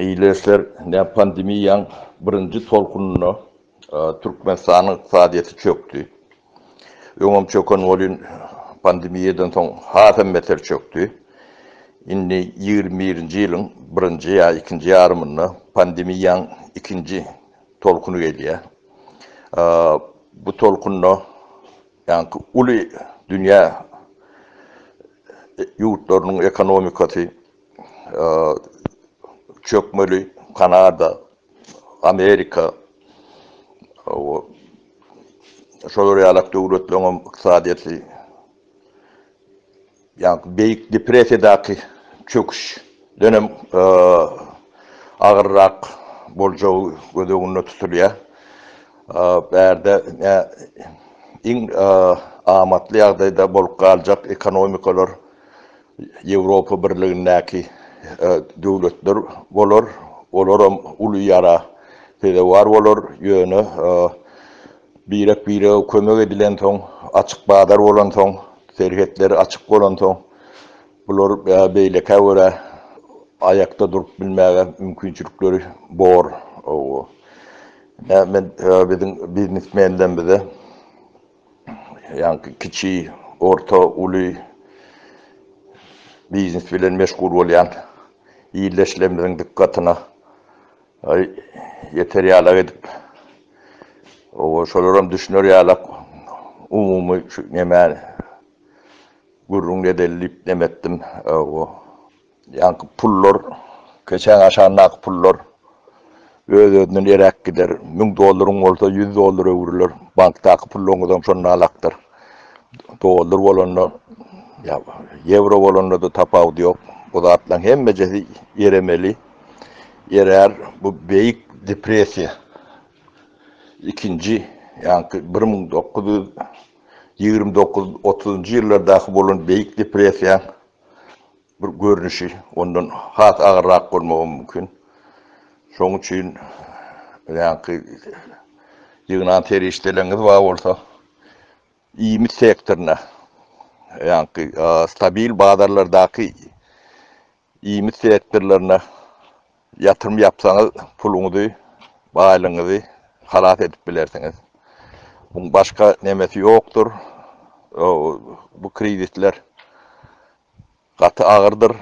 Eýleşler näm pandemiýaň birinji tolkunynda Türkmenistanyň ykdysadyýeti çökdi. Öňem çöken welin pandemiýadan soň has hem beter çökdi. Indi ýigrimi birinji ýylyň birinji ýa ikinji ýarymynda pandemiýaň ikinji tolkuny gelýär. Bu tolkunda ýaňky uly dünýä ýurtlarynyň ekonomikasy çökmeli Kanada, Amerika we şolar ýalak döwletleriň hem ykdysadyýeti ýa-da Beýik depressiýadaky çöküşden hem agyrrak boljagy göz öňünde tutulýar. Bärde iň amatly ýagdaýda bolup galjak ekonomikalar Ýewropa Birligindäki döwletler bolar, olaram uly ýara sezewar bolar, ýöne birek-birege kömek edilensoň, açyk bazar bolansoň, serhetler açyk bolansoň, bular beýlekä görä aýakda durup bilmäge mümkinçilikleri bor. Biziň biznesmenlerimize ýaňky kiçi, orta, uly biznes bilen meşgul bolýan ildeşlerimiziň dykgatyna ýeter ýalak edip, oba şolaram düşüner ýalak umumy şu nemäni gürrüň edeli diýip neme etdim. Ýaňky pullar, keçäň aşagyndaky pullar öz-özünden eräk gider. Müň dollaryň bolsa ýüz dollara öwrüler. Bankdaky puluňyzam şonda alakdyr. Dollar bolanda, ýa ýewro bolanda-da tapawudy ýok. Bu zatlaryň hemmejesi eremeli. Erär. Bu Beýik depressiýa ikinji, ýaňky bir müň dokuz ýüz ýigrimi dokuz, otuzynjy ýyllardaky bolan Beýik depressiýaň bir görnüşi ondan has agyrrak bolmagy mümkin. Şoň üçin ýaňky ýygnan serişdeleriňiz bar bolsa, iýmit sektoryna, ýaňky stabil bazarlardaky iýmit sektorlaryna Ýatyrym ýapsaňyz puluňyzy, baýlygyňyzy halas edip bilersiňiz. Muň başga nemesi ýokdur. Bu krizisler gaty agyrdyr.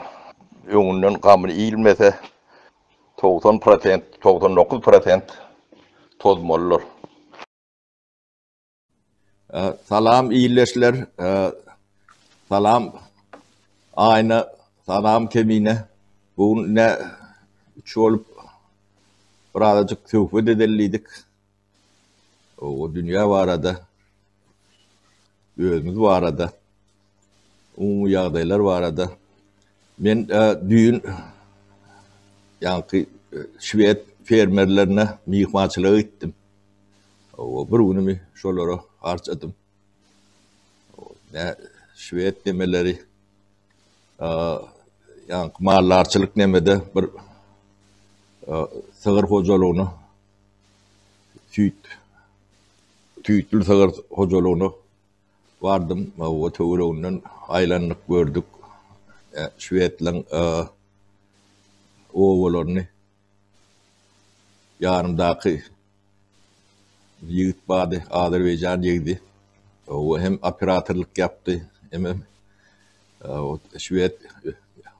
Öňünden gamyny iýilmese, togsan prosent, togsan dokuz prosent tozmalydyr. Salam ildeşler, salam Aýna, salam Kemine. Bu gün ne üç bolup birazajyk söhbet edellidik. O dünýä barada, özümiz barada. Umumy ýagdaýlar barada men düýn ýaňky şwed fermerlerine myhmançylyga gitdim. Bir günümi şolara harçadym. Şwed nemeleri ýaňky maldarçylyk nemede bir sygyr hojalygyna süýt, süýtli sygyr hojalygyna Bardym we töwereginden aýlandyk, gördük. Şwedlaryň obalaryny ýanymdaky ýigit bardy, azerbaýjan ýigidi. O hem operatorlyk ýapdy, hemem şwed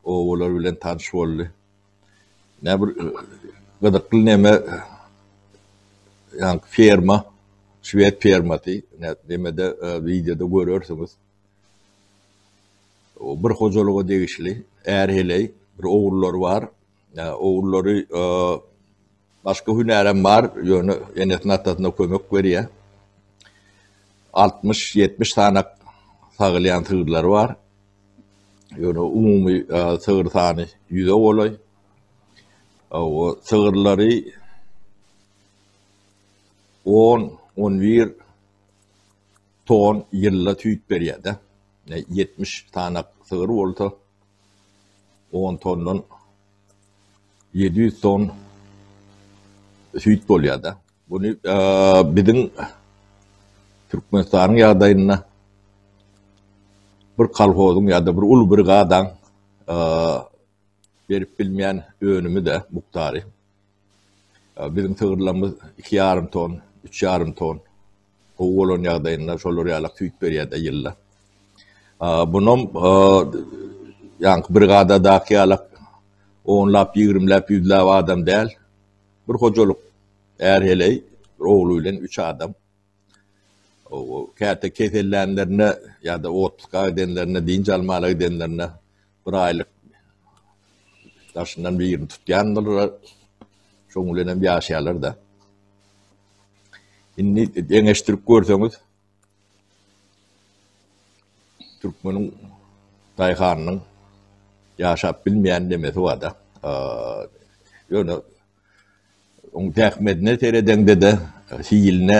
obalary bilen tanyş boldy. Näme bir gyzykly neme ýaňky ferma, şwed fermasy, nemede wideoda görersiňiz. Bir hojalyga degişli är heleý, bir ogullary bar. Ogullary başga hünärem bar, ýöne enesine-atasyna kömek berýär. Altmyş, ýetmiş sany sagylýan sygyrlary bar. Ýöne umumy sygyr sany ýüze golaý. Hawa, sygyrlary on, on bir ton ýylda süýt berýär-de. Ýetmiş sanak sygyr bolsa, on tondan ýedi ýüz ton süýt bolýar-da. Buny biziň Türkmenistanyň ýagdaýynda bir kolhozyň ýa-da bir uly brigadaň berip bilmeýän önümi-de, mukdary. Biziň sygyrlarymyz iki ýarym ton, üç ýarym ton, gowy bolan ýagdaýynda şolar ýalak süýt berýär-de ýylda. Bunam ýaňky brigadadaky ýalak onlap, ýigrimläp, ýüzläp adam däl. Bir hojalyk är-heleý, bir ogly bilen üç adam. Käte kesellänlerinde ýa-da otluka gidenlerinde, dynç almala gidenlerinde bir aýlyk daşyndan birini tutýandylar. Şoň bilen hem ýaşaýarlar-da. Indi deňeşdirip görseňiz, Türkmeniň daýhanynyň ýaşap bilmeýän nemesi bar-da. Ýöne onuň zähmetine seredeňde-de, hiline,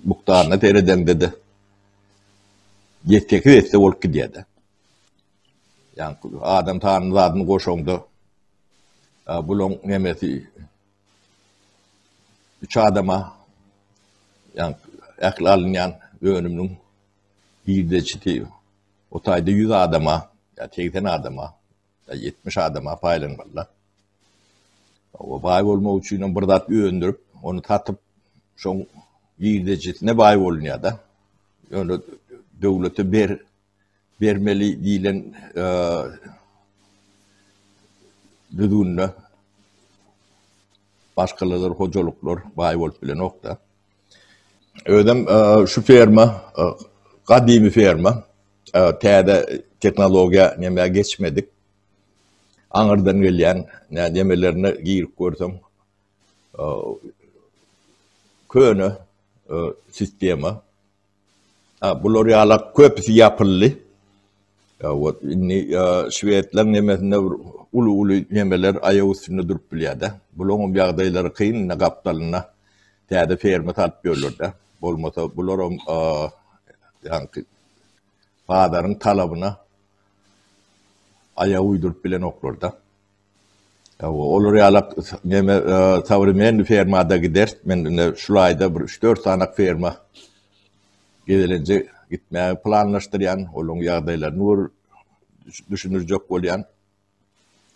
mukdaryna seredeňde-de ýetgesiz etse bolup gidýär-de. Ýa-ni adam sanyny, zadyny goşaňda bulaň nemesi Üç adama, ýagny ähli alynýan önüminiň girdeji diýip, o taýda ýüz adama ýa segsen adama ýa ýetmiş adama paýlanmalydyr. O baý bolmak üçin hem bir zat öndürip, ony satyp, şoň girdejisine baý bolunýar-da. Ýöne döwlete ber, bermeli diýlen düzgünde başgalalar hojalyklar baý bolup bilenok-da. Özem şu ferma gadymy ferma. Täze tehnologiýa nämä geçmedik. Aňyrdan gelýän nämelerine girip görseň köne sistema. A bular ýala köpüsi ýapyldy. Ýa wot indi şwedler nemesinde bir uly uly nemeler aýak üstünde durup bilýärde. Bulaňam ýagdaýlary kyn indi gapdalynda täze ferma salyp ýörlerde. Bolmasa bularam ýaňky bazaryň talabyna aýak uýduryp bilenoklarda. Hawa, olar ýalak neme sowremenniý fermada gider. Men indi şul aýda bir üç-dört sanak ferma gezelenje gitmäge planlaşdyrýan. Olaryň ýagdaýlaryny gör düşündirjek bolýan.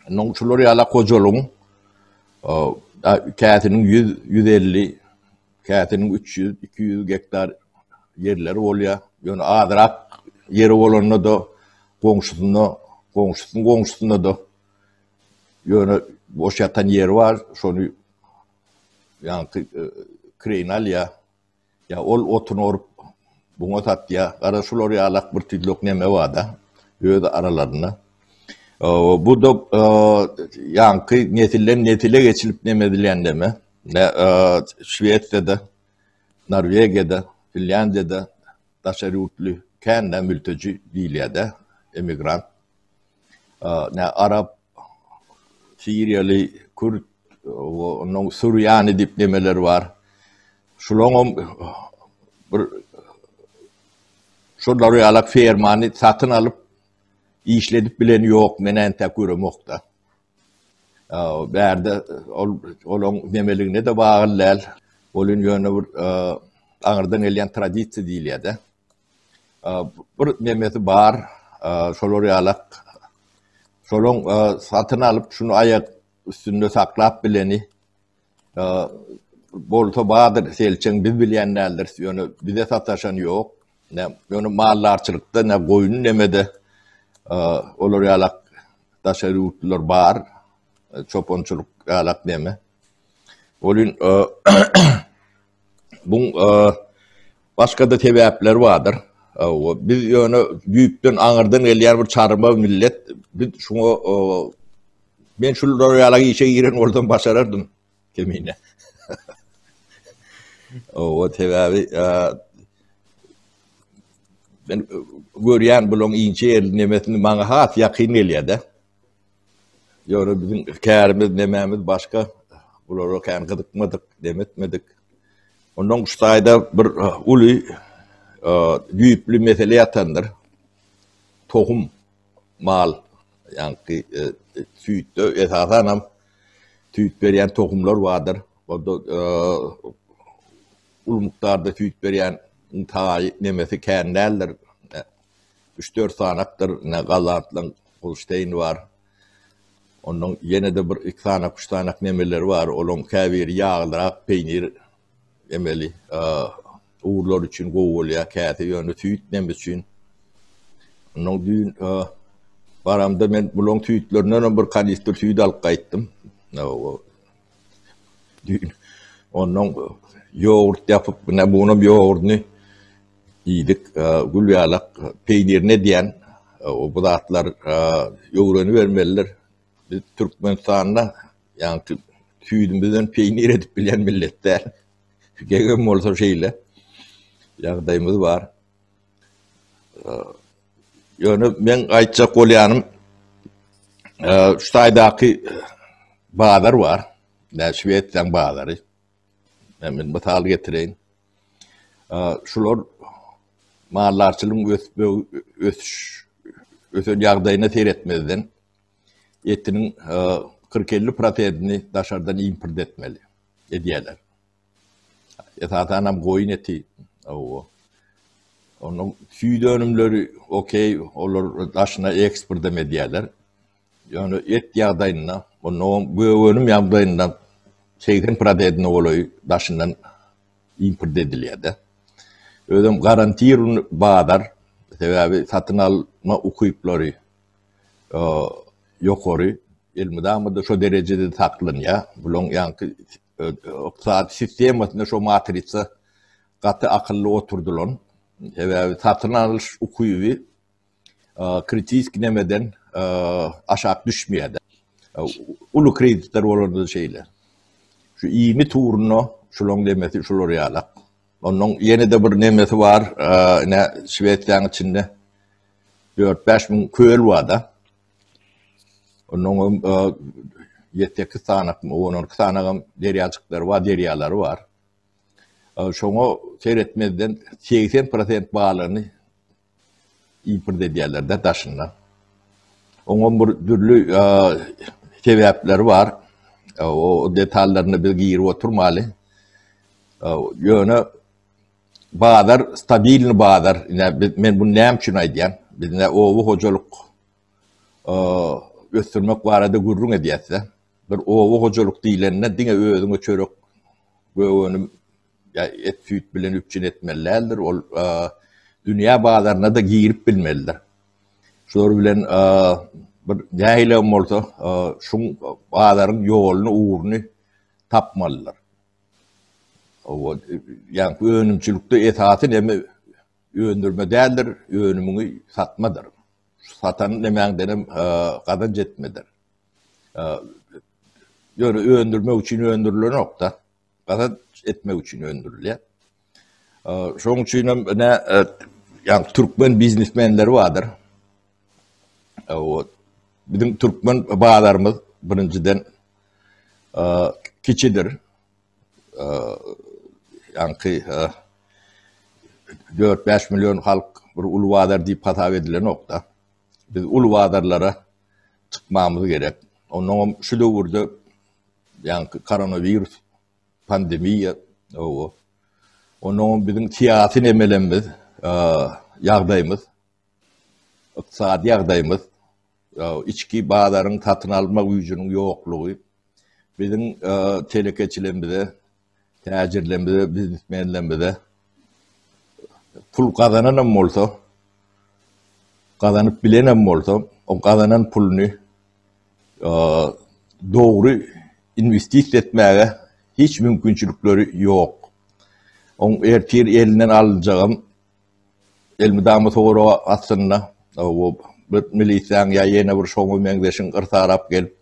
Indi şular ýalak hojalygyň käsiniň ýüz, ýüz elli Käsiniň üç ýüz, iki ýüz gektar ýerleri bolýar. Ýöne azrak ýeri bolanda-da, goňşusynda, goňşusynyň goňşusynda-da ýöne boş ýatan ýeri bar, şony ýaňky kireýine alýar. Ýa ol otun orup, buňa satýar. Gara şular ýaly akbirtüýlek neme bar-da, öz aralarynda. Bu-da ýaňky nesilden-nesile geçilip neme edilýän neme. Nä Şwesiýada, Norwegiýada, Finlýandiýada daşary ýurtly kän nä mülteji diýilýär-dä, emigrant. Nä arap, siriýaly, kürt, onnoň surýany diýip nemeler bar. Şulaňam bir şolary ýalak fermany satyn alyp işledip bileni ýok, men entek göremok-da. Bärde ol olaň nemeligine-de bagly däl. Ol indi ýöne bir aňyrdan gelýän tradisiýa diýilýär-de. Bir nemesi bar, şolar ýalak. Şolaň satyn alyp, şuny aýak üstünde saklap bileni. Bolsa bardyr, selçeň biz bilýän däldiris, ýöne bize sataşan ýok. Nä, ýöne maldarçylykda, nä goýun nemede olar ýalak daşary ýurtlular bar, çopançylyk ýalak neme. Welin, Buň başga-da sebäpleri bardyr. Biz ýöne düýpden aňyrdan gelýän bir çarwa millet. Biz şuňa men şul ýaly işe giren bolsam başarardym kemine. Owa sebäbi men görýän bularyň inçe ýerli nemesini maňa has ýakyn gelýär-de. Ýöne biziň kärimiz, nemämiz başga, bulara kän gyzykmadyk, dem etmedik. Ondan şu taýda bir uly düýpli mesele ýatandyr. Tohum, mal, ýaňky süýtde esasanam süýt berýän tohumlar bardyr. Onda uly mukdarda süýt berýän taýy, nemesi kän däldir. Üç-dört sanakdyr ine gollandlaň Holsteýni bar. Onnoň ýene-de bir iki sanak, üç sanak nemeleri bar. Olaň käbiri ýaglyrak peýnir emeli ugurlar üçin gowy bolýar. Käsi ýöne süýt neme üçin. Onnoň düýn baramda men bulaň süýtlerinden hem bir kanistr süýt alyp gaýtdym. Düýn onnoň ýogurt ýapyp, ine bunuň ýogurdyny Diýdik, Gülýalak peýnirini edýän bu zatlar öwrenibermelidir. Biz Türkmenistanda ýaňky süýdümizden peýnir edip bilýän millet däl. Gegem bolsa şeýle ýagdaýymyz bar. Ýöne meň aýtjak bolýanym, şu taýdaky bazar bar, Şwesiýanyň bazary. Men mysal getireýin. Şular maldarçylygyň ösüş, ösen ýagdaýyna seretmezden, etiniň kyrk-elli prosentini daşardan import etmeli, edýärler. Esasanam goýun eti, onuň süýt önümleri, okeý, olar daşyna eksportam edýärler. Ýöne et ýagdaýynda, mundan gök önüm ýagdaýynda segsen prosedine golaýy daşyndan import edilýär-de. Özem garantirowany bazar, sebäbi satyn alma ukyplary ýokary, elmydama-da şo derejede saklanýar. Bularyň ýaňky ykdysady sistemasyna şo matrisa gaty akylly oturdylan. Sebäbi satyn alyş ukyby. kritiski nemeden aşak düşmeýärdi. Uly kreditler bolanda şeýle. Şu iýmit ugruna şularyň nemesi şular ýaly. Ondan ýene-de bir nemesi bar, ine Şwesiýanyň içinde 4-5 müň köl bar-da. Ondan hem 7-8 sany, 10-12 sany hem derýajyklar bar, derýalar bar. Şoňa seretmezden 80% balygyny Import edýärler-de daşyndan. Oňam bir dürli sebäpleri bar. O detallaryna biz girip oturmaly. Ýöne bazar stabilny bazar. Men bunu näme üçin aýdýan? Biz ne oba hojalyk ösdürmek barada gürrüň edýäs-de. Bir oba hojalyk diýlende diňe özüňe çörek, gök önüm et-süýt bilen üpjün etmeli däldir, ol dünýä bazaryna-da girip bilmelidir. Şular bilen bir nähilem bolsa şuň bazaryň ýoluny, ugruny tapmalydyr. Ýagny önümçilikde esasy näme öndürme däldir, önümiňi satmadyr. Satan nämäňdenem gazanç etmedir. Ýöne öndürmek üçin öndürilenok-da. gazanç etmek üçin öndürilýär. Şoň üçin hem ne yani Türkmen biznesmenleri vardır. O bizim Türkmen bazarımız birinciden kiçidir. Yani ki 4-5 milyon halk bir ulu bazar deyip hasap edilen nokta. Biz ulu bazarlara çıkmamız gerek. Ondan şu döwürde Ýaňky koronawirus pandemiýa oba. Onuň biziň syýasy nemelerimiz, ýagdaýymyz, ykdysady ýagdaýymyz, içki bazaryň satyn alma güýjüniň ýoklugy biziň telekeçilerimize täjirlerimize, biznesmenlerimize pul gazanan hem bolsa, gazanyp bilen hem bolsa, o gazanan pulunu e, dogry investisiýa etmäge hiç mümkinçilikleri ýok. Oň ertir elinden alynjagam elmidama soraga aslynda o bir milisiýaň ýa ýene bir şoňa meňzeşiň yrsarap gelip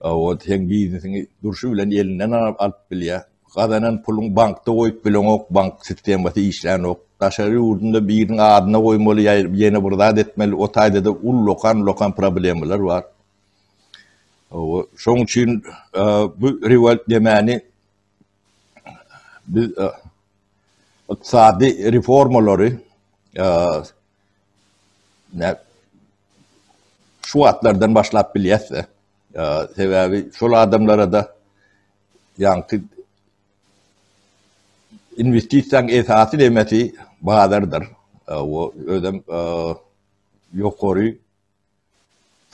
Owod seň biznesiňi durşy bilen elinden alyp bilýär. Gazanan puluňy bankda goýup bileňok, bank sistemasy işlänok. Daşary ýurdunda biriniň adyna goýmaly ýa ýene bir zat etmeli, o taýda-da ullakan-ullakan problemalar bar. Hawa, şoň üçin bu rewol nemäni biz ykdysady reformalary Şu wagtlardan başlap bilýäs-de. Sebäbi şol adamlara-da ýaňky inwestisiýaň esasy nemesi bazardyr. Özem ýokary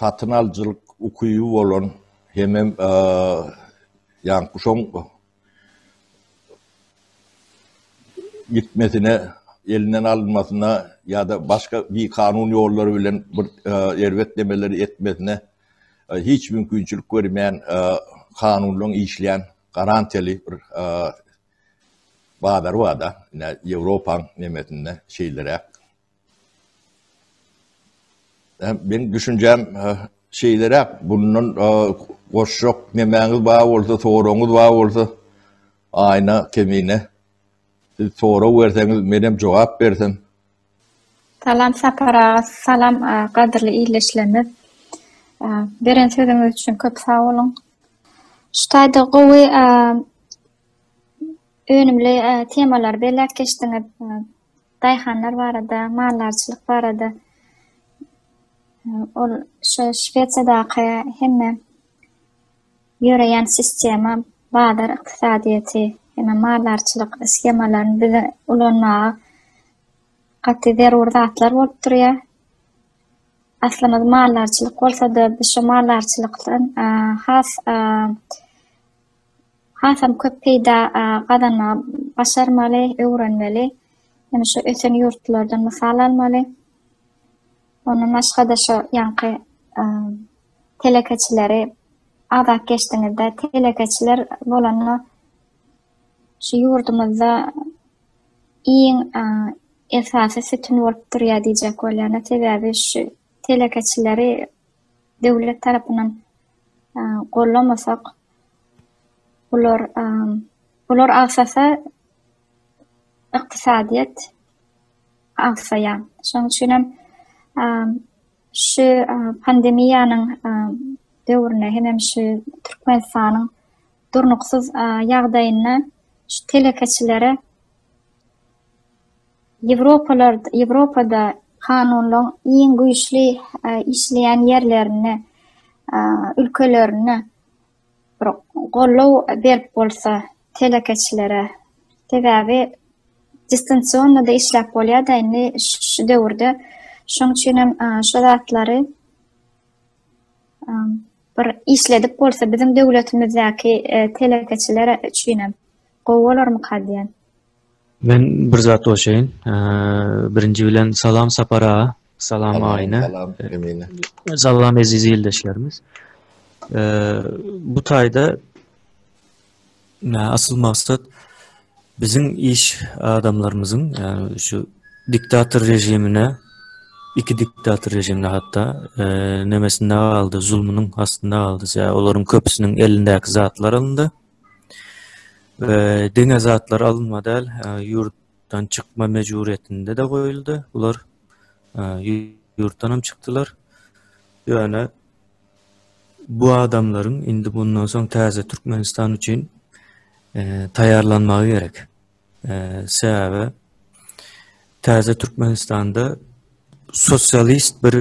satyn alyjylyk ukyby bolan hemem ýankuşaň gitmesine, elinden alynmasyna ýa-da başga bikanun ýollar bilen bir erbet nemeleri etmesine hiç mümkinçilik bermeýän kanunlaryň işleýän garantiýaly bir bazary bar-da, ine, Ýewropaň nemesinde şeýleräk. Meň düşünjäm şeýleräk, bundan goşjak nemäňiz bar bolsa, soragyňyz bar bolsa, Aýna Kemine, siz sorag berseňiz, menem jogap bersem. Salam Sapar aga, salam gadyrly ildeşlerimiz. Beren sözüňiz üçin köp sag boluň. Şu taýda gowy önümli temalary belläp geçdiňiz. Daýhanlar barada, maldarçylyk barada ol şu Şwesiýadaky hemme ýöreýän sistema, bazar ykdysadyýeti, hemme maldarçylyk shemalaryny bize ulanmaga gaty zerur zatlar bolup durýar. Aslymyz maldarçylyk bolsa-da, biz şu maldarçylykdan has hasam köp peýda gazanmagy başarmaly, öwrenmeli. Ýöne şu ösen ýurtlardan mysal almaly. Ondan başga-da şu ýaňky telekeçileri agzap geçdiňiz-de, telekeçiler bolanda şu ýurdumyzda iň esasy sütün bolup durýar diýjek bolýan. Sebäbi şu telekeçileri döwlet tarapyndan gollamasak, bular bular agsasa ykdysadyýet agsaýar. Şonuň üçin hem şu pandemiýanyň döwründe hemem şu Türkmenistanyň durnuksyz ýagdaýynda şu telekeçilere Ýewropada kanunlaryň iň güýçli işleýän ýerlerinde, ülkelerinde bir goldaw berip bolsa telekeçilere. Sebäbi distansion-da işläp bolýar-da indi şu döwürde. Şonuň üçin hem şu zatlary bir işledip bolsa biziň döwletimizdäki telekeçiler üçinem. Gowy bolarmyka diýen. Men bir zat goşaýyn. Birinji bilen salam Sapar aga. Salam Aýna. Salam Emine. Salam eziz ildeşlerimiz. Bu taýda asyl maksat biziň iş adamlarymyzyň şu diktator režimine iki diktator režimine hatda nemesinde galdy, zulmunyň astynda galdy. Olaryň köpüsiniň elindäki zatlar alyndy. we diňe zatlar alynma däl, ýurtdan çykma mejburyýetinde-de goýuldy. Bular ýurtdanam çykdylar. Ýöne bu adamlaryň indi mundan soň täze Türkmenistan üçin taýýarlanmagy gerek. Sebäbi täze Türkmenistanda sosialist bir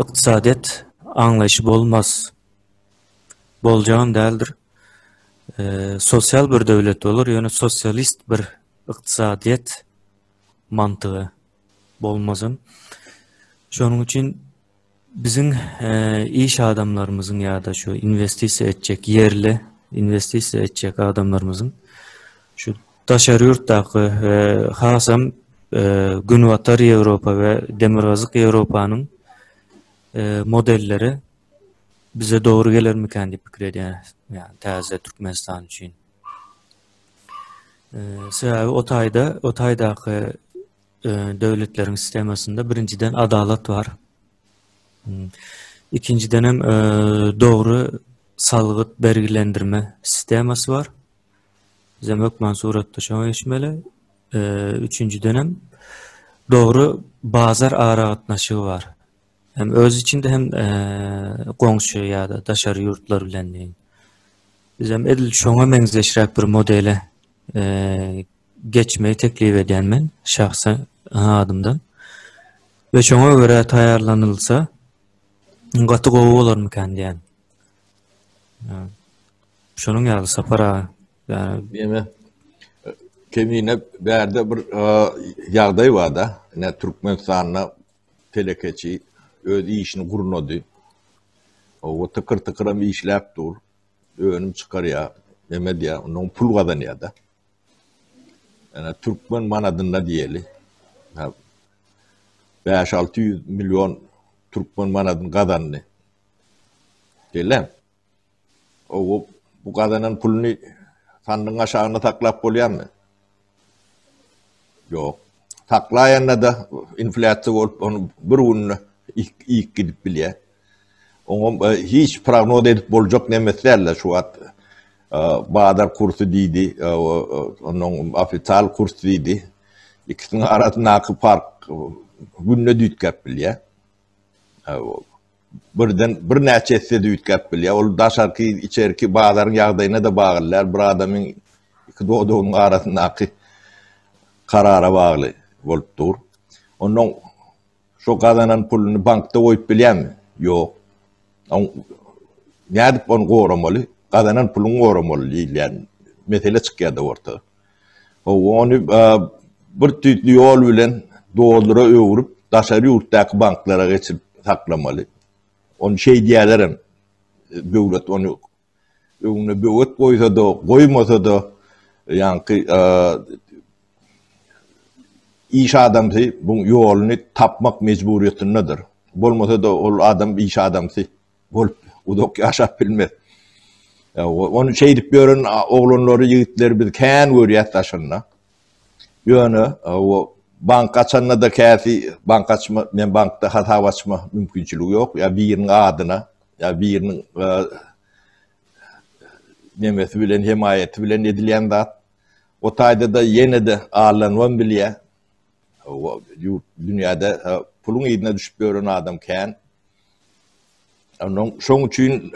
ykdysadyýet aňlaýşy bolmaz. boljagam däldir. Sosial bir döwlet bolar, ýöne sosialist bir ykdysadyýet mantygy bolmazam. Şonuň üçin biziň iş adamlarymyzyň ýa-da şu inwestisiýa etjek ýerli inwestisiýa etjek adamlarymyzyň şu daşary ýurtdaky we hasam Günbatar Ýewropa we Demirgazyk Ýewropanyň modelleri Bize dogry gelermikän diýip pikir edýän, ýagny täze Türkmenistan üçin. Sebäbi o taýda, o taýdaky e, döwletleriň sistemasynda birinjiden adalat bar. Hmm. Ikinjiden hem e, dogry salgyt bergilendirme sistemasy bar. Bizem hökman suratda şoňa geçmeli. E, üçünjiden hem dogry bazar aragatnaşygy bar. Hem öz içinde hem goňşy ýa-da daşary ýurtlar bilen diýen. Bizem edil şoňa meňzeşräk bir modele geçmegi teklip edýän men şahsy adymdan. Ve şoňa göre taýýarlanylsa gaty gowy bolarmykan diýen. Şonuň ýaly Sapar aga. Yani, Deme, kemine bärde bir ýagdaý bar-da. Ine Türkmenistanda Telekeçi öz işini gurnady. Oba tykyr-tykyram işläp dur. Önüm çykarýar, neme edýär, ondan pul gazanýar-da. Ýöne türkmen manadynda diýeli. Bäş-alty ýüz million türkmen manadyny gazandy. Şeýle. Ow, bu gazanan puluny sandygyň aşagynda saklap bolýarmy? Ýok. Saklaýanda-da inflýasiýa bolup, ony bir günde ýyk gidip bilýär. Oňa e, hiç prognoz edip boljak nemes däldir şu wagt. E, bazar kursy diýdi, e, onuň ofital kurs diýdi. Ikisiniň arasyndaky fark günde düýtgäp bilýär. Birden birnäçe esse-de üýtgäp bilýär. Ol daşarky, içerki bazaryň ýagdaýyna-da baglylýar. Bir adamyň iki dodagynyň arasyndaky karara bagly bolup dur. Ondan şo gazanan puluny bankda goýup bilýärmi? Ýok. Nädip ony goramaly? Gazanan puluňy goramaly diýilýän mesele çykýar-da orta. Ony bir tüýsli ýol bilen dollara öwrüp, daşary ýurtdaky banklara geçirip saklamaly. Ony şeýdýärler hem. Döwlet ony öňüne böwet goýsa-da, goýmasa-da, ýaňky iş adamsy bu ýoluny tapmak mejburiýetindedir. Bolmasa-da ol adam iş adamsy. Bolup uzak ýaşap bilmez. Ony şeýdip ýören oglanlary, ýigitleri biz kän görýäs daşynda. Ýöne o bank açanda-da käsi bank açma, men bankda hasap açma mümkinçiligi ýok. Ýa biriniň adyna, ýa biriniň e, nemesi bilen, hemaýaty bilen edilýän zat. O taýda-da ýene-de allanwan bilýär. Ýurt, dünýäde puluň yzyna düşüp ýören adam kän. Şoň üçin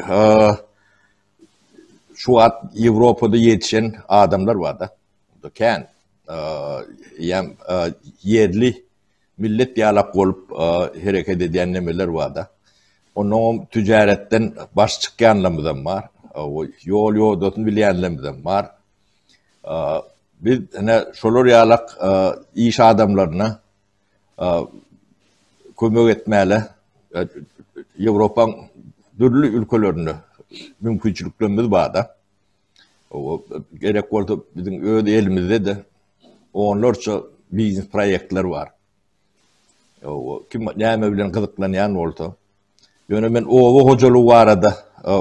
şu wagt Ýewropada ýetişen adamlar bar-da. Kän. Eýýäm ýerli millet ýalak bolup hereket edýän nemeler bar-da. Onuňam tüjaretden baş çykýanlarymyzam bar. Ýol-ýodasyny bilýänlerimiz hem bar. Biz ine şolar ýalak iş adamlaryna kömek etmäle Ýewropaň dürli ülkelerinde mümkinçiliklerimiz barda. Gerek bolsa biziň öz elimizde-de onlarça biznes proýektler bar. Kim näme bilen gyzyklanýan bolsa. Ýöne men oba hojalygy barada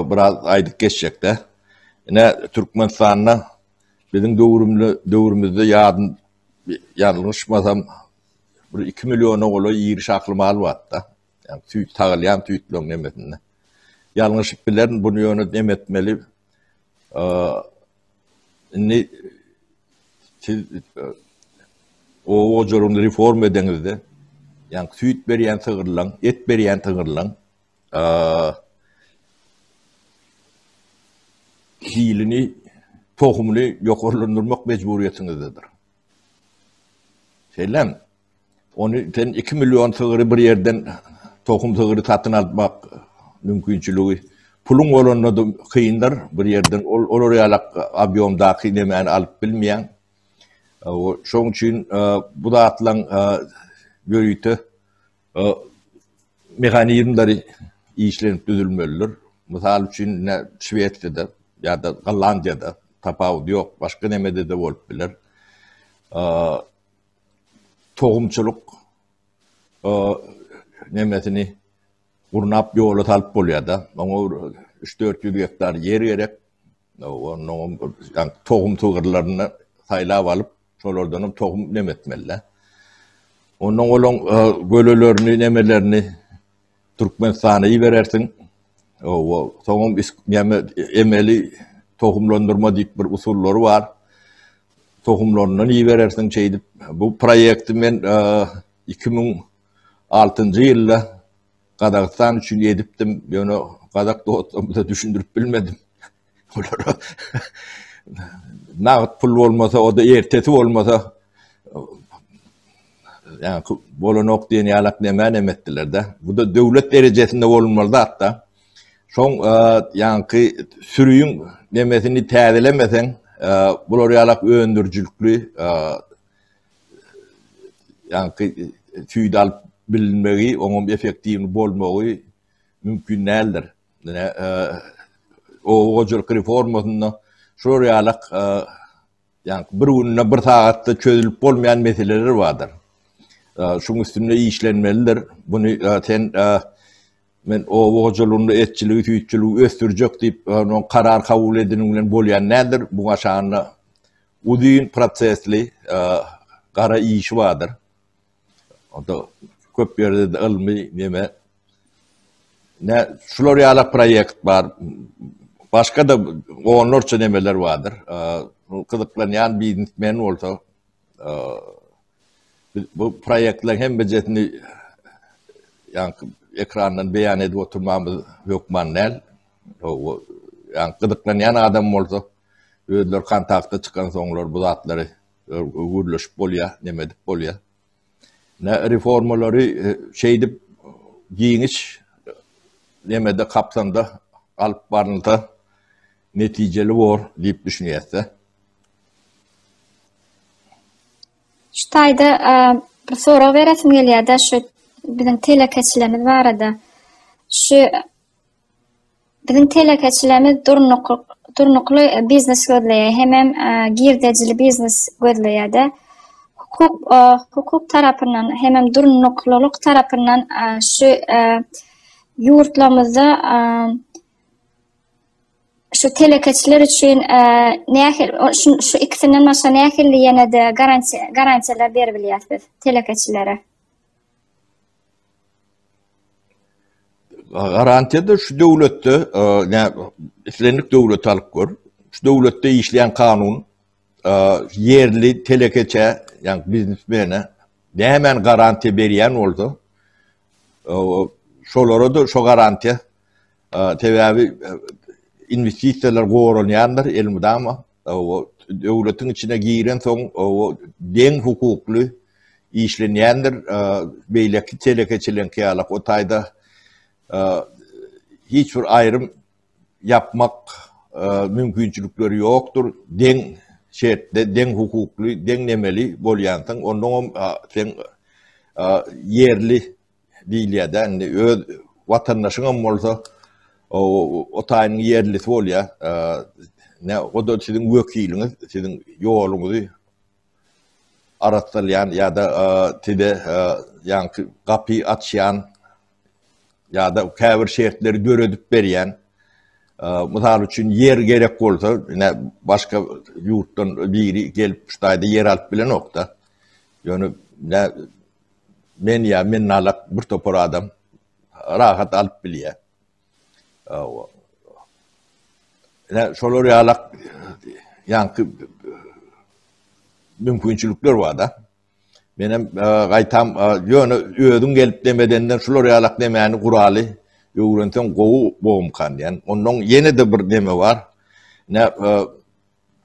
biraz aýdyp geçjekde. Ine Türkmenistanda biziň döwrümde döwrümizde ýadym ýalňyşmasam bir 2 milliona golaý iri şahly mal bardy-da. Ýa süýt sagylýan süýtleriň nemesinde. Ýalňyşyp bilerin, bunu ýöne nemetmeli. Indi siz oba hojalygyny reforma edeňizde, ýagny süýt berýän sygyrlaň, et berýän sygyrlaň hilini, tohumyny ýokarlandyrmak mejburyýetiňizdedir. Şeýlemi? Ony sen 2 million sygyry bir ýerden tohum sygyry satyn almak mümkinçiligi puluň bolanda da kyndyr bir ýerden ol olar ýaly obýomdaky nemäni alyp bilmeýäň. Şoň üçin bu zatlaň ýörite mehanizmleri işlenip düzülmelidir. Mysal üçin Şwesiýada ýa-da Gollandiýada tapawudy ýok, başga nemede-de bolup biler. tohumçylyk nemesini gurnap ýola salyp bolýar-da. Oňa 3-400 gektar ýer gerek. Onuň tohum sygyrlaryny saýlap alyp, şolardan hem tohum nemetmeli-de. Onuň olaň gölelerini, nemelerini Türkmenistana iberersiň. Owa, soňam näme emeli tohumlandyrma diýip bir usullary bar. Tohumlaryndan iberersiň şeýdip. Bu proýekti men iki müň altynjy ýylda Gazagystan üçin edipdim, ýöne gazak dostlarymyza düşündirip bilmedim. Olara nagt pul bolmasa, o da ertesi bolmasa, yani bolanok diýen ýalak näme näme etdiler de. Bu da döwlet derejesinde bolmaly zat da. Şoň e, ýaňky sürüýiň nemesini täzelemeseň, e, bular ýalak öndürijilikli e, ýaňky tüýde alyp bilinmegi, oňam effektiwni bolmagy mümkin däldir. Dine oba hojalyk reformasynda şular ýalak ýa bir günde bir sagatda çözülip bolmaýan meseleler bardyr. Şuň üstünde işlenmelidir. Buny sen men oba hojalygynda etçiligi, süýtçüligi ösdürjek diýip, onuň karar kabul ediniň bilen bolýan nädir? Bu aşanda uzyn prosesli gara işi bardyr. Onda köp ýerde de ylmy neme ne şular ýaly proýekt bar. Başga da onlarça nemeler bardyr. Gyzyklanýan biznesmen bolsa bu proýektler hemmejesini ýa-da ekrandan beýan edip oturmamyz hökman däl. Ýa-da gyzyklanýan adam bolsa özleri kontakta çykan soňlar bu zatlary Gürleşip bolýa, neme edip bolýa. Nä reformalary şeýdip giňiş nemede kapsamda alyp barylsa netijeli bor diýip düşünýäs-de. Şu taýda bir sorag beresim gelýär-de şu biziň telekeçilerimiz barada. Şu Biziň telekeçilerimiz durnukly biznes gözleýär, hemem girdejili biznes gözleýär-de. Hukuk, hukuk tarapyndan, hemem durnuklylyk tarapyndan şu ýurtlarymyzda şu telekeçiler üçin nähili, şu ikisinden başga nähili ýene-de garantiýalar berip bilýäris biz telekeçilere? Garantiýada şu döwletde, ne islendik döwlet alyp gör. Şu döwletde işleýän kanun ýerli telekeçä, ýa biznesmene nämäni garantiýa berýän bolsa, şolara-da şo garantiýa. Sebäbi inwestisiýalar goranýandyr elmydama. Döwletiň içine girensoň deň hukukly işlenýändir. Beýleki telekeçileriňki ýaly o taýda hiç bir aýrym ýapmak mümkinçilikleri ýokdur. Deň şertde, deň hukukly, deň nemeli bolýansyň. Onnoňam sen ýerli Diýilýär dä indi öz watandaşyňam bolsa o taýynyň ýerlisi bolýar. Ne o da siziň wekiliňiz, siziň ýoluňyzy arassalýan ýa-da size ýaňky gapy açýan ýa-da käbir şertleri döredip berýän. Mysal üçin ýer gerek bolsa, ine başga ýurtdan biri gelip şu taýda ýer alyp bilenok-da. Ýöne Men ýa men nalak bir topar adam rahat alyp bilýär. Awa. Ine şolar ýalak ýaňky mümkinçilikler bar da. Men hem e, gaýtam e, ýöne özüň gelip demedenden şular ýalak demäni guraly öwrenseň gowy bolmkan diýen. Ondan ýene-de bir deme bar. Ne e,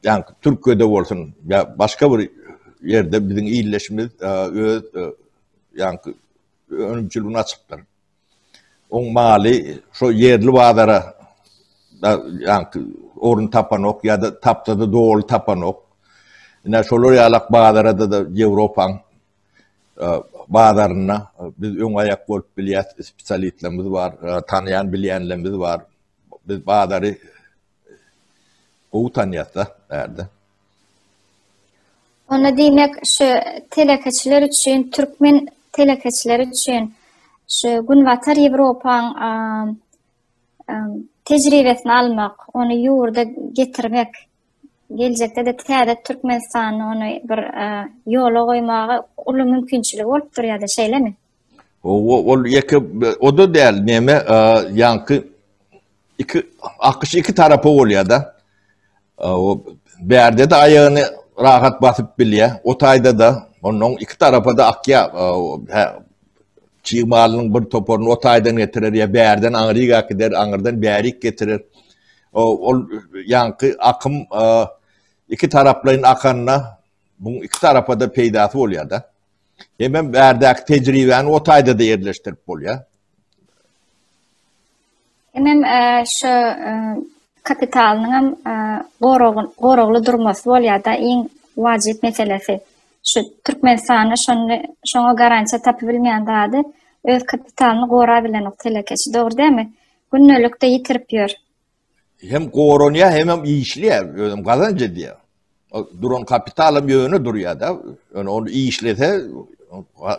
Ýaňky Türkiýede bolsun ýa başga bir ýerde biziň ildeşimiz öz ýaňky önümçiligini açypdyr. Oň maly şo ýerli bazara da ýaňky orun tapanok ýa-da tapsa-da doly tapanok. Ine şolar ýalak bazarada-da Ýewropaň bazaryna biz öň aýak bolup bilýäs, spesialistlerimiz bar, tanaýan-bilýänlerimiz bar. Biz bazary Gowy tanýasda bärde. Onda diýmek şu telekeçiler üçin, türkmen telekeçiler üçin şu Günbatar Ýewropaň tejribesini almak, ony ýurda getirmek, geljekde-de täze Türkmenistany ony bir ýola goýmaga uly mümkinçiligi bolup durýar-da, şeýlemi? Ol ýeke o da däl, näme ýaňky iki akyş iki tarapa bolýar-da. O bärde-de aýagyny rahat basyp bilýär, o taýda-da onuň iki tarapa-da akýar. Hä, çig malynyň bir toparyny o taýdan getirer ýa bärden aňryk äkider, aňyrdan bärik getirer. Ol ýaňky akym iki taraplaýyn akanda, bu iki tarapa-da peýdasy bolýar-da. Hemem bärdäki tejribäni o taýda-da ýerleşdirip bolýar. Hemem e, şu e, kapitalynyň hem e, goragly durmasy bolýar-da iň wajyp meselesi. Şu Türkmenistanda şony şoňa garantiýa tapyp bilmeýän zady öz kapitalyny gorap bilenok telekeçi, dogry dämi? Gündelikde ýitirip ýör. hem goranýar hem hem işleýär özüm gazanç edýär duran kapital hem ýöne durýar da ýöne ony işlese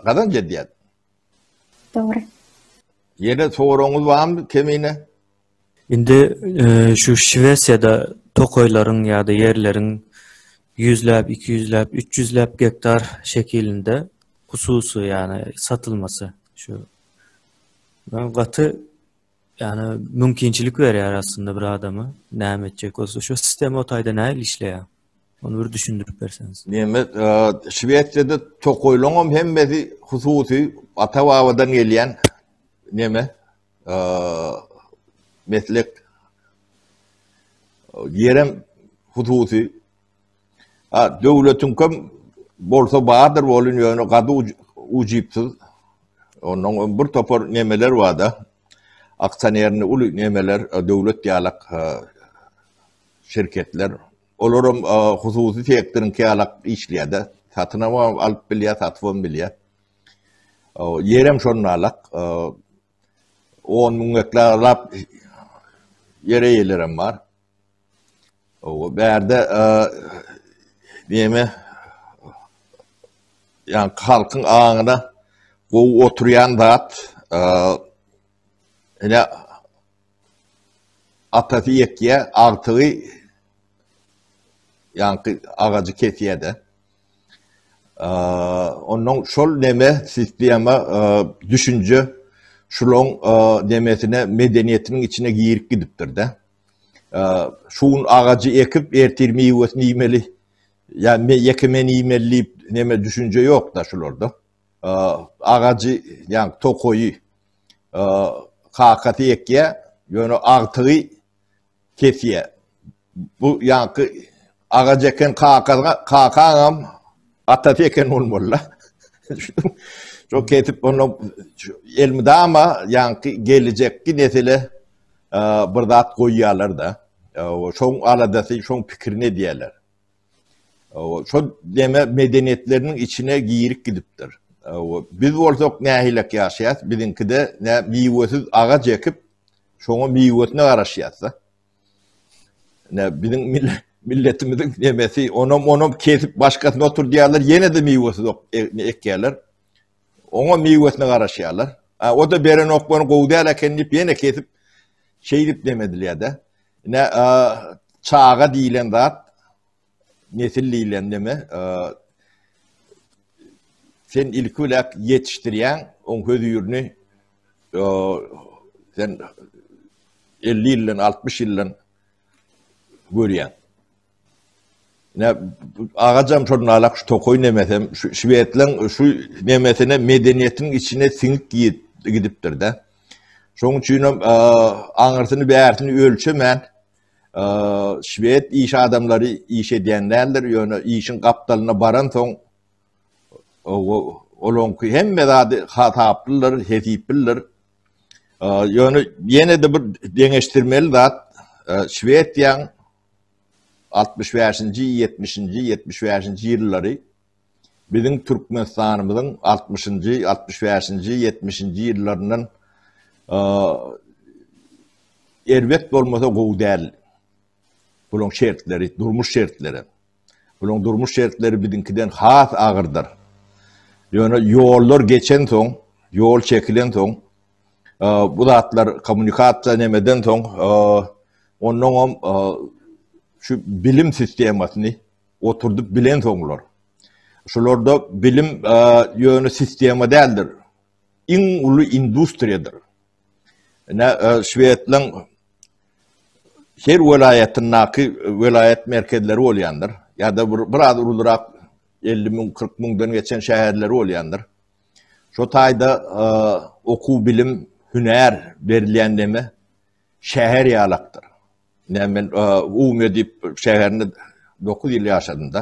gazanç edýär dogry ýene soragyňyz barmy kemine indi e, şu şwesiýada tokaýlaryň ýa-da ýerleriň ýüzläp iki ýüzläp üç ýüzläp gektar şekilinde hususy ýagny satylmasy şu gaty Ýani mümkinçilik berýär aslynda bir adama näme etjek bolsa şu sistema o taýda nähili işleýär? Ony bir düşündirip berseňiz. Neme Şwesiýada tokoýlaňam hemmesi hususy ata babadan gelýän neme meslek ýerem hususy A, döwletiň kim bolsa bardyr bolun ýöne gady ujypsyz. Ondan öň bir topar nemeler barda. Aksionerni uly nemeler, döwlet ýalak şirketler. Olaram hususy sektoryň ýalak işleýärdi. Satyn alan alyp bilýär, satyp hem bilýär. Ýerem şonda alak. 10 müň gektar lap ýere ýelerem bar. O bärde näme ýa halkyň aňyna gowy oturýan zat ene atasy ýekýä agtygy ýa-da agajy kesýä-de. Ondan şol näme sistema düşünje şulaň nämetine medeniýetiniň içine girip gidipdir-de. şu gün agajy ekip, ertir miwesini iýmeli, ýa me ýeke men iýmeli diýip neme düşünje ýok-da şularda. Agajy, ýa tokaýy kakasy ekýär, ýöne agtygy kesýär. Bu ýaňky Agajy eken kakaňa, kakaňam atasy eken bolmaly-la. Şo kesip onda elmydama ýaňky geljekki nesile bir zat goýýarlar-da. Şoň aladasy, şoň pikirini edýärler. Şo deme medeniýetleriniň içine girip gidipdir. Biz bolsak nähilek ýaşaýas, biziňkide nä miwesiz agaç ekip, şoňa miwesine garaşýas-da. Ne biziň milletimiziň nemesi onam onam kesip başgasyny oturdýarlar ýene-de miwesiz ok e, ekýärler. Oňa miwesine garaşýarlar. A o da beren okbany gowy däl eken diýip ýene kesip şeýdip nemedilýär-de. Ne çaga diýilen zat nesil diýlen neme, sen ilki bilen ýetişdirýän, oň hözirini sen 50 ýyldan, 60 ýyldan görýän. Ne agajam şol nalak şu tokoý nemesem, şu şwedleň şu nemesine medeniýetiň içine siňip gidipdir-de. Şoň üçin hem aňyrsyny bärsini ölçemän Şwed iş adamlary iş edýän däldir, ýöne işiň gapdalyna baransoň, olaňky hemme zady hasaplydyr, hesiplidir. Ýöne ýene-de bir deňeşdirmeli zat, Şwediýaň 65-nji, 70-nji, 75-nji ýyllary Biziň Türkmenistanymyzyň altmyşynjy, altmyş bäşinji, ýetmişinji ýyllaryndan erbet bolmasa gowy däl bulaň şertleri, durmuş şertleri. Bulaň durmuş şertleri biziňkiden has agyrdyr. Ýöne ýollar geçen soň, ýol çekilen soň, bu zatlar kommunikasiýa nemeden soň, ondan hem şu bilim sistemasyny, Oturdyp bilen soňlar. Şularda bilim ýöne sistema däldir. Iň uly industriýadyr. Ine, Şwedlaň her welaýatyndaky welaýat merkezleri bolýandyr. Ýa-da bir biraz ulurak 50 müň, 40 müňden geçen şäherleri bolýandyr. Şo taýda okuw, bilim, hünär berilýän deme Şäher ýalakdyr. Näme men Ume diýip şäherinde dokuz ýyl ýaşadym-da.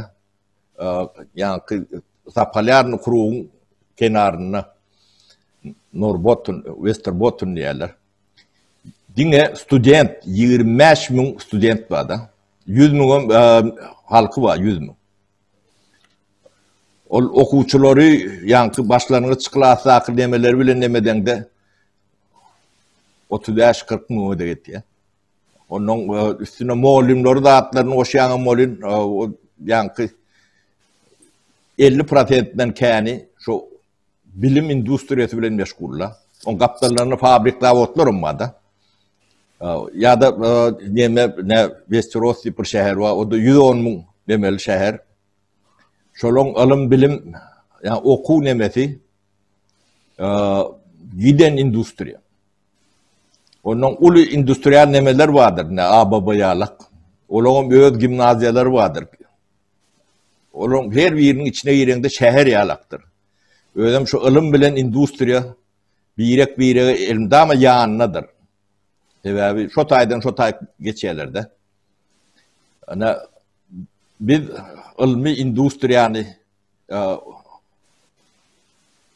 Ýaňky Zapolýarny krugyň kenarynda Norbotun, Westerbotun diýýärler. Diňe student, ýigrimi bäş müň student bar-da. Ýüz müňem halky bar, ýüz müň. Ol okuwçylary ýaňky başlangyç klasdaky nemeleri bilen nemedeňde, otuz bäş kyrk müňe de ýetýär. Ondan e, üstüne mollimleri zatlaryny goşýan molin e, o ýaňky 50 prosentden käni şu bilim industriýasy bilen meşgulla. On gapdallaryny fabrik zavodlar hem barda. E, ya da neme ne Westeros diýip bir şäher bar. O da 110 müň demeli şäher. Şolon alym bilim yani okuw nemesi giden industriýa. Ondan uly industrial nemeler vardyr, ne ABB ýalak. Olaryň öz gimnaziýalary vardyr. Olaryň her biriniň içine gireňde şäher ýalakdyr. Özüm şu ylym bilen industriýa birek birege elmdama ýanynadyr. Sebäbi şu taýdan şu taý geçýärlerde. Ana biz ylmy industriýany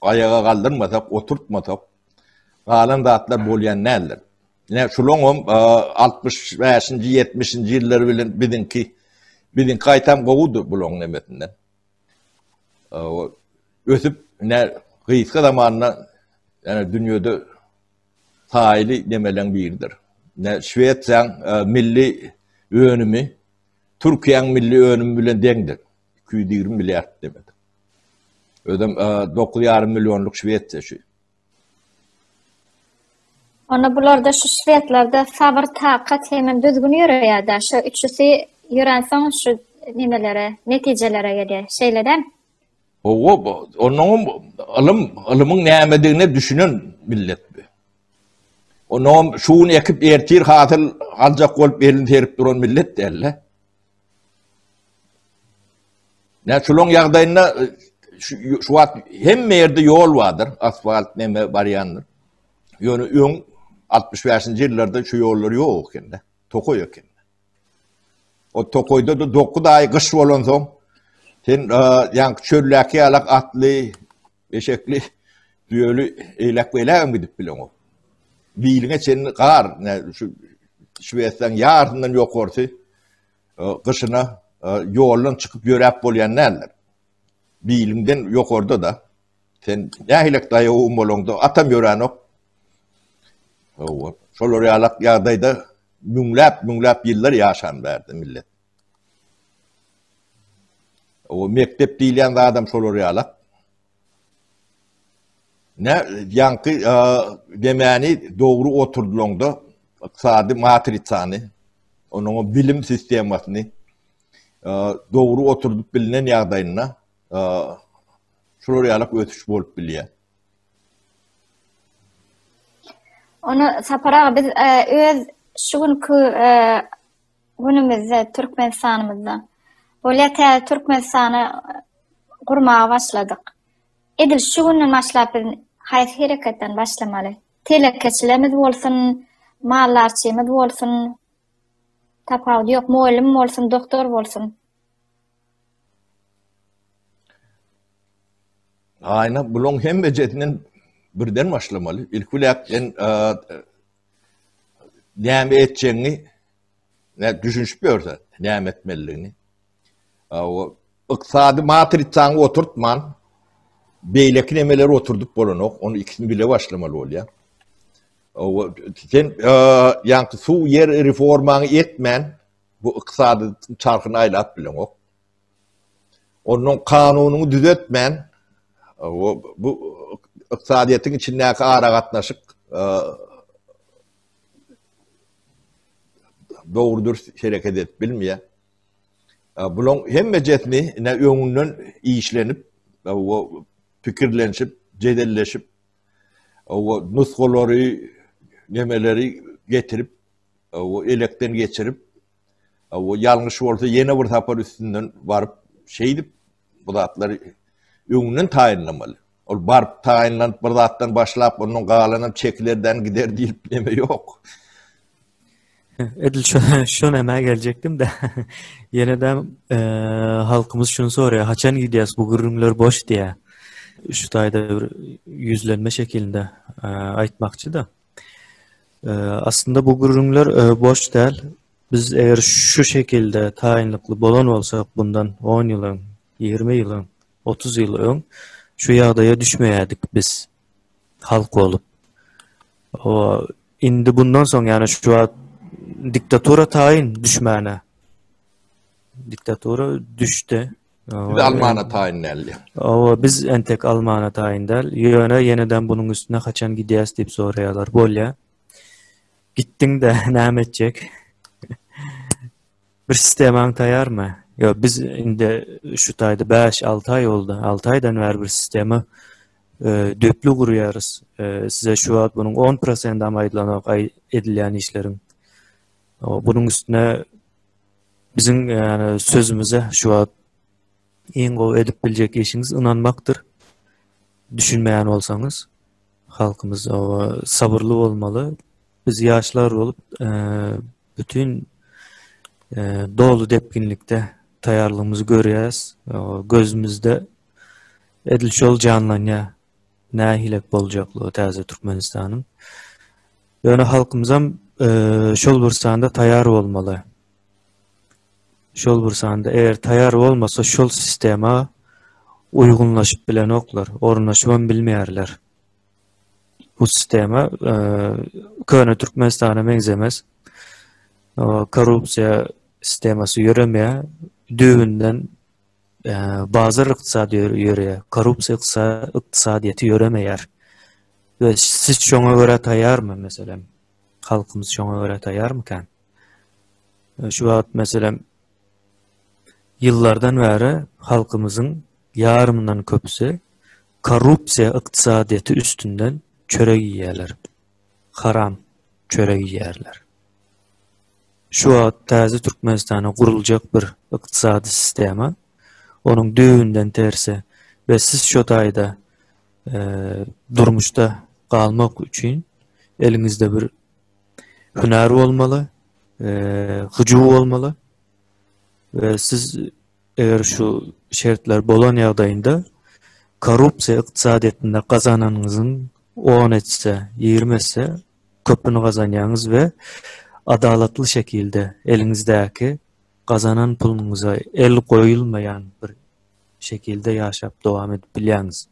aýaga galdyrmasak, oturtmasak, galan zatlar bolýan däldir. Ine, şularyň hem 65-nji, 70-nji ýyllary bilen biziňki, biziňki gaýtam gowudy bularyň nemesinden. Ösüp, ine, gysga zamanda, ýa-da dünýede taýly nemeleň biridir. Ine, Şwesiýaň milli önümi Türkiýäň milli önümi bilen deňdir. Iki ýüz ýigrimi milliard demek. Özem dokuz ýarym millionlyk Şwesiýa şu. Onda bularda şu şwedlerde sabr, takat hem düzgün ýöreýär-de. Şu üçüsi ýörensoň şu nimelere, netijelere gelýär. Şeýle-de. Owo, onuň ylym, ylymyň nämedigine düşünen millet bu. Onuň şu gün ekip ertir hasyl aljak bolup elini serip duran millet däl-de. Nä şulaň ýagdaýynda şu wagt hemme ýerde ýol bardyr, asfalt näme barýandyr. Ýöne öň 65-nji ýyllarda şu ýollar ýok ekende, tokaý eken. O tokaýda da 9 aý gyş bolansoň, sen ýaňky çöldäki ýalak atly Eşekli, düýeli eýläk-beýlägem gidip bileňok. Biliňe çenli gar, ne şu Şwesiýanyň ýarysyndan ýokarsy e, gyşyna e, ýoldan çykyp ýöräp bolýan däldir. Biliňden ýokarda da sen nähilek daýawum bolaňda atam ýöränok. Owa, şolar ýalak ýagdaýda müňläp-müňläp ýyllar ýaşan bärde millet. O mekdep diýilýän zadam şolar ýalak. Ne ýaňky demäni dogry oturdylaňda ykdysady matrisany, onuň bilim sistemasyny dogry oturdyp bilnen ýagdaýynda şolar ýalak ösüş bolup bilýär. Ony Sapar aga biz öz şu günki Günümizde Türkmenistanymyzda bolýar täze Türkmenistany gurmaga başladyk. Edil şu günden başlap biz haýsy hereketden başlamaly? Telekeçilerimiz bolsun, maldarçymyz bolsun, tapawudy ýok, mugallym bolsun, doktor bolsun. Aýna bulaň hemmejesinden birden başlamaly. Ilki biläk sen näme etjegiňi ne düşünşip ýörse, näme etmelidigini. Ykdysady matrisaňy oturtman, beýleki nemeler oturdyp bolanok, onu ikisini bile başlamaly bolýar. Sen ýaňky suw ýer reformaňy etmän, bu ykdysady çarhyny aýlap bileňok. Onuň kanunyny düzetmän, bu ykdysadyýetiň içindäki aragatnaşyk dogry-dürs hereket edip bilmeýär. Bulaň hemmejesini ine öňünden işlenip, pikirlenşip, jedelleşip, nusgalary, nemeleri getirip, elekden geçirip, Aw ýalňyş bolsa ýene bir sapar üstünden baryp şeýdip bu zatlary öňünden taýynlamaly. Ol baryp taýynlanyp bir zatdan başlap onuň galanam çekilerden gider diýip neme ýok. Edil şu şu näme geljekdim de. Ýene de eee halkymyz şuny soraýar. Haçan gidýäs bu gürrüňler boş diýär. Şu taýda bir ýüzlenme şekilinde eee aýtmakçy da. Aslynda bu gürrüňler boş däl. Biz eger şu şekilde taýynlykly bolan bolsak, bundan on ýyl öň, ýigrimi ýyl öň, otuz ýyl öň şu ýagdaýa düşmeýärdik biz halk bolup. Indi bundan soň, ýagny şu wagt diktatura taýyn düşmäne. Diktatura düşdi. Biz almana taýyn däl. Awa, biz entek almana taýyn däl. Ýöne ýeneden bunuň üstüne haçan gidýäs diýip soraýarlar. Bolýa. Gitdiň de näme etjek? Bir sistemaň taýarmy? Ýa biz indi şu taýda 5-6 aý boldy. 6 aýdan bäri bir sistema e, döplü gurýarys. E, size şu wagt bunuň 10% hem aýdylanok aý edilýän işleriň. Bunuň üstüne Biziň ýa-da sözümize şu wagt iň gowy edip biljek işiňiz ynanmakdyr. Düşünmeýän bolsaňyz, halkymyz sabyrly bolmaly. Biz ýaşlar bolup, bütin doly depginlikde taýýarlygymyzy görýäs. Gözümizde edil şol janlanýar. Nähilek boljaklygy täze Türkmenistanyň. Ýöne halkymyzam şol bir sanda taýar bolmaly. Şol bir sanda eger taýar bolmasa şol sistema uýgunlaşyp bilenoklar, ornaşybam bilmeýärler. Bu sistema köne Türkmenistana meňzemes. Korrupsiýa sistemasy ýöremeýär. Düýbünden bazar ykdysady ýörýär, korrupsiýa ykdysadyýeti ýöremeýär. We siz şoňa görä taýýarmy meselem? Halkymyz şoňa görä taýýarmykan? Şu wagt meselem ýyllardan bäri halkymyzyň ýarymyndan köpüsi korrupsiýa ykdysadyýeti üstünden çörek iýýärler. Haram çörek iýýärler. Şu wagt täze Türkmenistana guruljak bir ykdysady sistema, onuň düýbünden tersi we siz şo taýda durmuşda galmak üçin eliňizde bir hünär bolmaly, hyjuw bolmaly we siz eger şu şertler bolan ýagdaýynda korrupsiýa ykdysadyýetinde gazananyňyzyň on esse, ýigrimi esse köpüni gazanýaňyz we adalatly şekilde eliňizdäki gazanan puluňyza el goýulmaýan bir şekilde ýaşap dowam edip bilýäňiz.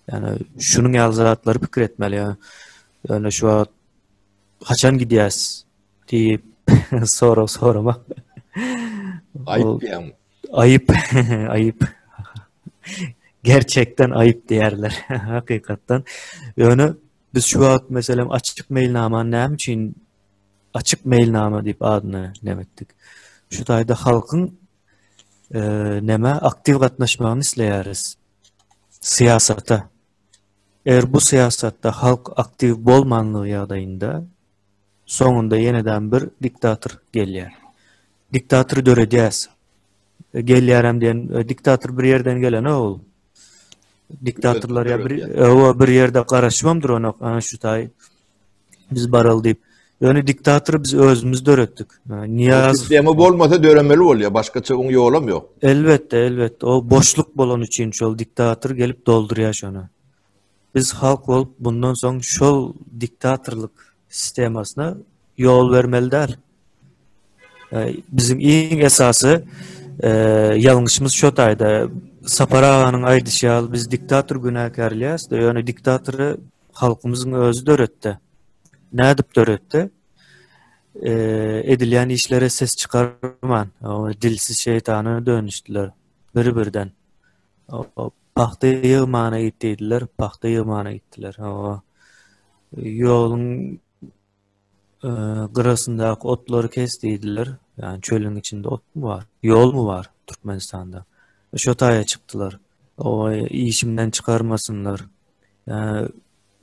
Ýani şunuň ýaly zatlary pikir etmeli. Ýani ýöne şu wagt haçan gidýäs diýip sorag sorama. Aýyp diýäň. Aýyp, aýyp. Gerçekden aýyp diýerler hakykatdan. Ýöne Biz şu wagt meselem açyk meýilnama näme üçin açyk meýilnama diýip adyny näme etdik? Şu taýda halkyň e, näme aktiw gatnaşmagyny isleýäris. Syýasata. Eger bu syýasatda halk aktiw bolmanlygy ýagdaýynda Soňunda ýenedam bir diktator gelýär. Diktatory döredýäs. Gelýärem diýen diktator bir ýerden gelenok ol. Diktatorlar ýa bir owa bir ýerde garaşybam duranok. Ana şu taý biz baraly diýip. Ýöne diktatory biz özümiz döretdik. Niýaz sistema bolmasa döremeli bolýar. Başgaça oň ýolam ýok. Elbetde, elbetde. O boşluk bolan üçin şol diktator gelip doldurýar şony. Biz halk bolup bundan soň şol diktatorlyk sistemasyna ýol bermeli däl. Biziň iň esasy ýalňyşymyz şo taýda. Sapar aganyň aýdyşy ýaly biz diktator günäkärleýäs, ýöne diktatory halkymyzyň özi döretdi. Nädip döretdi? Edilýän işlere ses çykarman, dilsiz şeýtana dönüşdiler bir-birden. Pagta ýygmana git diýdiler, pagta ýygmana gitdiler. Hawa. Ýoluň e, gyrasyndaky otlary kes diýdiler. Ýani çölüň içinde otmy bar? Ýolmy bar Türkmenistanda? E, şo taýa çykdylar. Owa, işimden çykarmasynlar. Ýani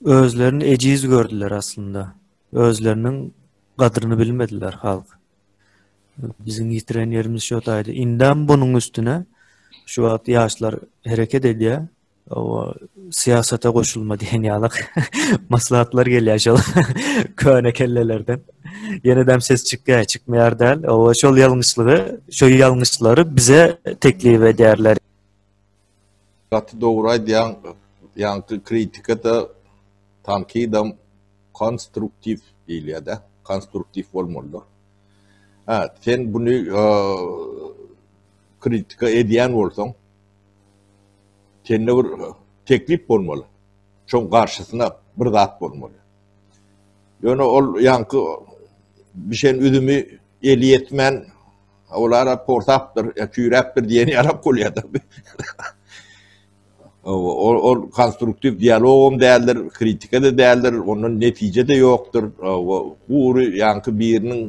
özlerini ejiz gördüler aslynda. Özleriniň gadryny bilmediler halk. Biziň ýitiren ýerimiz şo taýda. Indem bunuň üstüne şu wagt ýaşlar hereket edýär. Owa, syýasata goşulma diýen ýaly maslahatlar gelýär şol köne kellelerden. Ýenedem ses çykýar, çykmaýar däl. Owa, şol ýalňyşlygy, şo ýalňyşlary bize teklip edýärler. Gaty dogry aýdýaň ýaňky kritikada tankydam konstruktiw diýilýädä konstruktiw bolmalydyr hä sen buny kritika edýän bolsaň sende bir teklip bolmaly şoň garşysyna bir zat bolmaly ýöne ol ýaňky bişen üzümi eli ýetmän Olara porsapdyr, küýräpdir diýen ýalak bolýardyr. Ol konstruktiw dialogam däldir, kritika-da däldir, ondan netije-de ýokdur. Gury ýaňky biriniň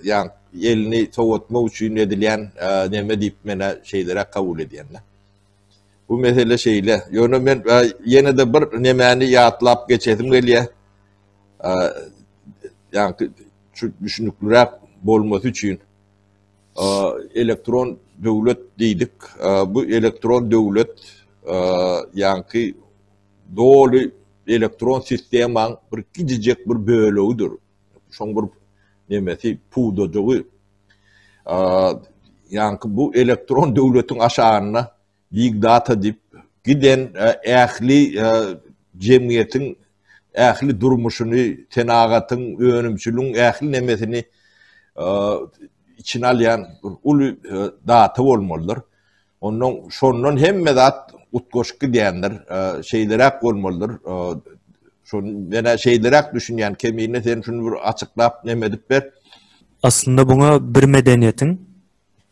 ýaň elini sowatmak üçin edilýän neme diýip men şeýleräk kabul edýän-de. Bu mesele şeýle. Ýöne men ýene-de bir nemäni ýatlap geçesim gelýär. ýaňky düşünikliräk bolmasy üçin elektron döwlet diýdik. Bu elektron döwlet ýaňky doly elektron sistemaň bir gijijek bir bölegidir. Şoň bir nemesi pudajygy ýaňky bu elektron döwletiň aşagynda Big data diýip giden ähli jemgyýetiň ähli durmuşyny, senagatyň, önümçiligiň ähli nemesini içine alýan uly data bolmalydyr. Ondan şondan hemme zat utgaşyp gidýändir. Şeýleräk bolmalydyr. Şony menä şeýleräk düşünýän. Kemine sen şuny bir açyklap neme edip ber. Aslynda buňa bir medeniýetiň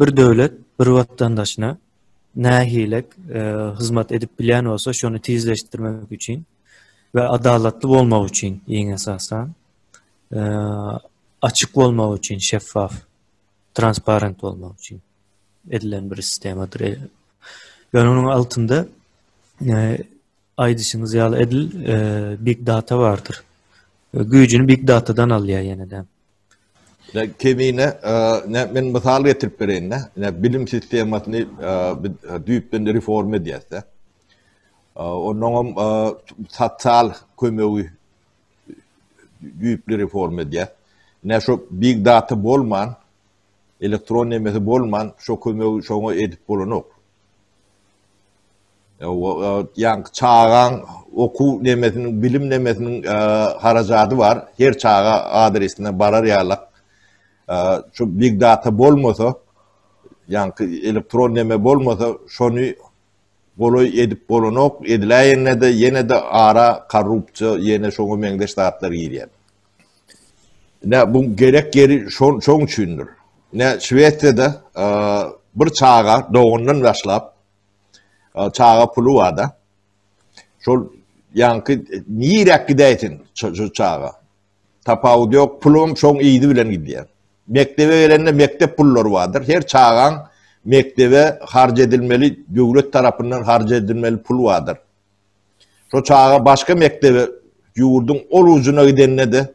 Bir döwlet bir watandaşyna nähilek hyzmat edip bilýän bolsa şony tizleşdirmek üçin we adalatly bolmak üçin iň esasan açyk bolmak üçin şeffaf transparent bolmak üçin edilen bir sistemadyr. Ýöne onuň altynda aýdyşyňyz ýaly edil big data bardyr. Güýjüni big datadan alýar ýene-de. Ýa kemine näme men mysal getirip bereýin-de. Ýa bilim sistemasyny biz düýpden reforma edýäs-de. Ondan hem sosial kömegi düýpli reforma edýäs. Ýa şu big data bolman, elektron nemesi bolman, şu kömegi şoňa edip bolanok. Ýa çagaň okuw nemesiniň, bilim nemesiniň harajady bar. Her çaga adresine barar ýaly şu big data bolmasa, ýaňky elektron neme bolmasa, şony golaý edip bolanok. Ediläýende-de ýene-de ara korrupsiýa, ýene şoňa meňzeş zatlar girýär. Nä bu gerek ýeri şoň şoň üçindir. Nä Şwesiýada bir çaga dogandan başlap Çaga puly bar-da. Şol ýaňky niräk gidäýsin şu çaga? Tapawudy ýok, pulum şoň yzy bilen gidýär. Mekdebe gelende mekdep pullary bardyr. Her çagaň mekdebe harç edilmeli, döwlet tarapyndan harç edilmeli pul bardyr. Şo çaga başga mekdebe ýurduň ol ujuna gidende-de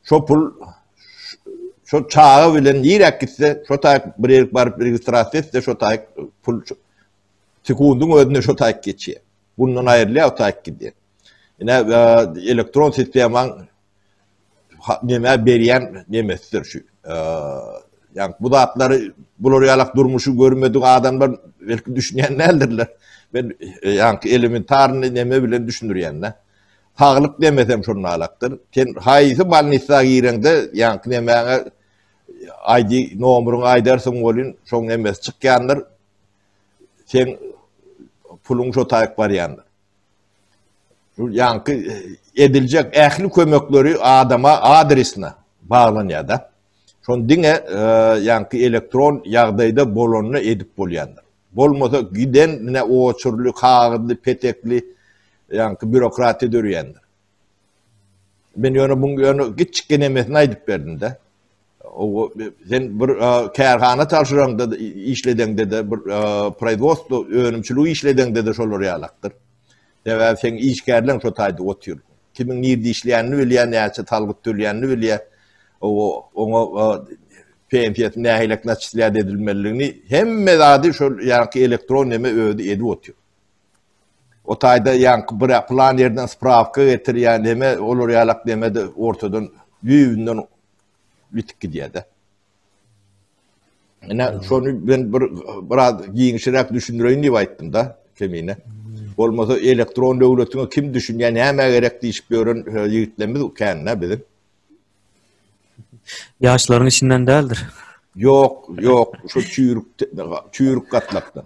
şo pul şo çaga bilen nirek gitse, şo taýk bir ýerik baryp registrasiýa etse, şo taýk pul sekundyň özünde şo taýk geçýär. Bundan aýrylýar, o taýk gidýär. Ine, e, elektron sistemaň näme berýän nemesidir şu. Ýa bu zatlary bular ýalak durmuşy görmedik adamlar belki düşünýän däldirler. Men ýa-ki elementar näme bilen düşündirýän-de. Saglyk demesem şonuň alakdyr. Sen haýsy bolnisa gireňde, ýa-ki nämäňe aýdy, nomuryň aýdarsyň welin, şoň näme çykýandyr. Sen puluň şo taýyk barýandyr. ýaňky ediljek ähli kömekleri adama adresine baglanýar da. Şony diňe ýaňky elektron ýagdaýda bolanda edip bolýandyr. Bolmasa giden mine oçurly, kagyzly, petekli ýaňky bürokratiýa döreýändir. Men ýöne muň ýöne giçik genemesini aýdyp berdim-de. O sen bir kärhana çalşyraňda işledeňde-de bir proizwostwo önümçiligi işledeňde-de şolar ýalakdyr. Sebäbi seň işgärleň şo taýda otyr. Kimiň nirde işleýänini bilýär, näçe salgyt töleýänini bilýär. O oňa pensiýasyny nähilek naçislýat edilmeliligini hemme zady şol ýaňky elektron neme özi edip otyr. O taýda ýaňky bir plan ýerden sprawka getir ýa neme olar ýalak neme de ortadan düýbünden ýitip gidýär-de. Ine şony men bir biraz giňişiräk düşündireýin diýip aýtdym-da kemine. Bolmasa elektron döwletiňe kim düşünýär, näme gerek diýip ýören e, ýigitlerimiz kände biziň. Ýaşlaryň içinden däldir. Ýok, ýok, şu çüýrük çüýrük gatlakdan.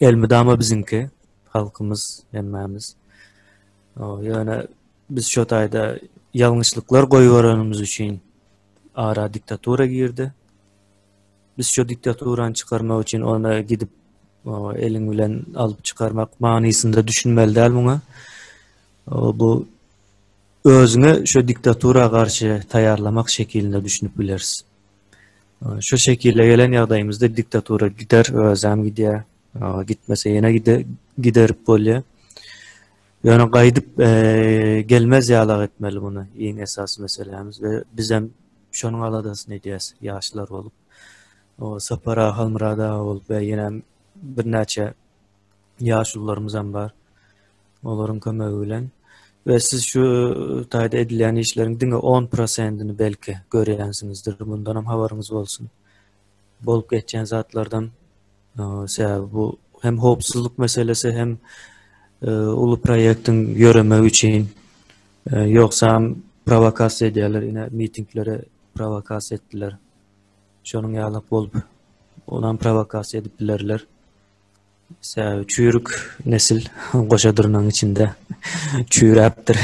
elmydama biziňki halkymyz hemmämiz. Ýöne biz şu taýda ýalňyşlyklar goýberenimiz üçin ara diktatura girdi. Biz şu diktaturany çykarmak üçin ony gidip eliň bilen alyp çykarmak manysynda düşünmeli däl muňa. Bu özüňe şu diktatura garşy taýýarlamak şekilinde düşünip bileris. Şu şekile gelen ýagdaýymyzda diktatura gider, özem gidýär. Gitmese ýene giderip bolýar. Ýöne gaýdyp gelmez ýalak etmeli muny iň esasy meselämiz we bizem şonuň aladasyny edýäs ýaşlar bolup. O Sapar aga, Halmyrat aga bolup we ýene birnäçe ýaşulularymyzam bar. Olaryň kömegi bilen we siz şu taýda edilýän işleriň diňe 10 prosentini belki görýänsiňizdir. Bundan hem habaryňyz bolsun. Bolup geçýän zatlardan sebäbi bu hem howpsuzlyk meselesi hem e, uly proýektiň ýöremegi üçin e, ýogsa hem provokasiýa edýärler, ine mitinglere provokasiýa etdiler. Şonuň ýaly bolup, onam provokasiýa edip bilerler. Çüýrük nesil goşa durnaň içinde çüýräpdir.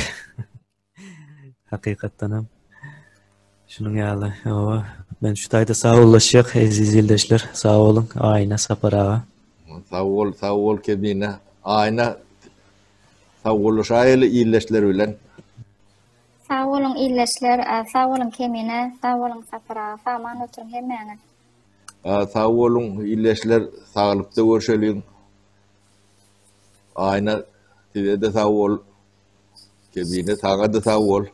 Hakykatdanam şunuň ýaly. Hawa, men şu taýda saglaşýak eziz ildeşler. Sag boluň, Aýna, Sapar aga. Sag bol, sag bol Kebine. Aýna saglaşaýyly ildeşler bilen. Sag boluň ildeşler, sag boluň Kemine, sag boluň Sapar aga. Saman oturyň hemmäňiz. Sag boluň ildeşler saglykda görşeliň. Aýna sizede sag bol. Kebine saňada sag bol.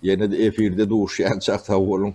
Ýene-de efirde duşýançak sag boluň.